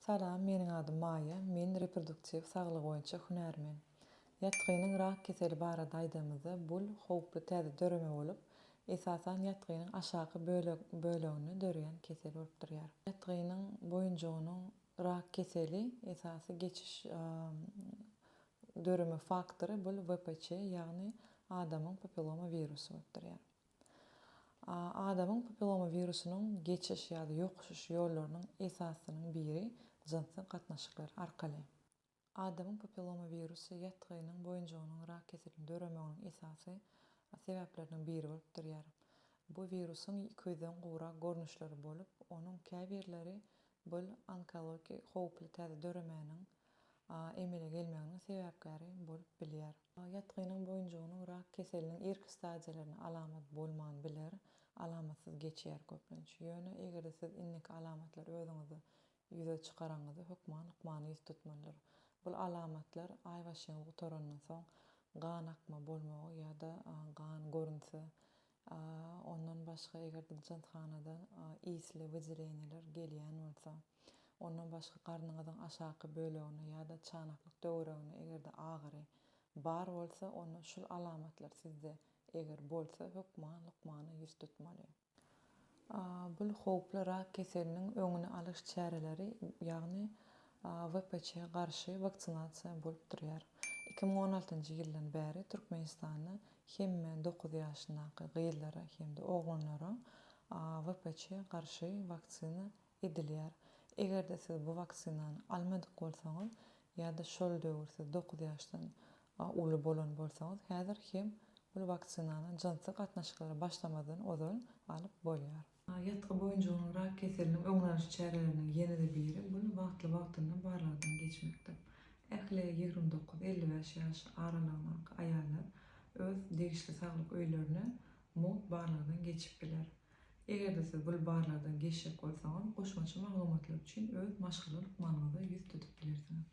Salam, meniň adym Maýa, men reproduktiw saglygy boýunça hünärmen. Ýatgynyň rak keseli barada aýdamyzda, bul howply täze döreme bolup, esasan ýatgynyň aşaky böleginde döreýän kesel bolup durýar. Ýatgynyň boýunjygynyň rak keseli esasy geçiş döreme faktory bul VPC ýagny adamyň papilloma wirusy bolup durýar. Adamyň papilloma wirusynyň geçiş ýa-da ýokuşyş ýollarynyň esasynyň biri jynsy gatnaşyklar arkaly. Adamyň papilloma wirusy ýatgynyň boýunjygynyň rak keseliniň döremeginiň esasy sebäpleriniň biri bolup durýar. Bu wirusyň iki ýüzden gowrak görnüşleri bolup, onuň käbirleri bul onkologiki howply täze döremäniň emele gelmeginiň sebäpkäri bolup bilýär. Ýatgynyň boýunjygynyň rak keseliniň irki stadiýalarynda alamat bolman biler, alamatsyz geçýär köplenç. Ýöne eger-de siz indiki alamatlary özüňizde ýüze çykaraňyzda hökman lukmana ýüz tutmalydyr. Bul alamatlar aýbaşyňyz gutarandan soň gan akma bolmagy ýa-da gan görünse A ondan başga eger de janthanadan isli wyjireniler gelýän bolsa, ondan başga garnyňyzyň aşaky bölegine ýa-da çanaklyk töweregine eger de agyry bar bolsa, onda şul alamatlar sizde eger bolsa hökman lukmana ýüz tutmaly. Bul howply rak keseliniň öňüni alyş çäreleri, ýagny WPÇ garşy waksinasiýa bolup durýar. Iki müň on altynjy ýyldan bäri Türkmenistanda hemme dokuz ýaşyndaky gyzlara hem-de oglanlara WPÇ garşy waksina Edilýär. Eger-de siz bu waksinany almadyk bolsaňyz ýa-da şol döwür siz dokuz ýaşdan uly bolan bolsaňyz, häzir hem bu waksinany jynsy gatnaşyklara başlamazdan ozal alyp bolýar. Ýatgy boýunjygynyň rak keseliniň öňüni alyş çäreleriniň ýene-de biri, bu wagtly-wagtynda barlagdan geçmekdir. Ähli ýigrimi dokuz, elli bäş ýaş aralygyndaky aýallar öz degişli saglyk öýlerine mugt barlagdan geçip biler. Eger-de siz bul barlardan geçjek bolsaňyz, goşmaça maglumatlar üçin öz maşgala lukmanyňyza ýüz tutup bilersiňiz.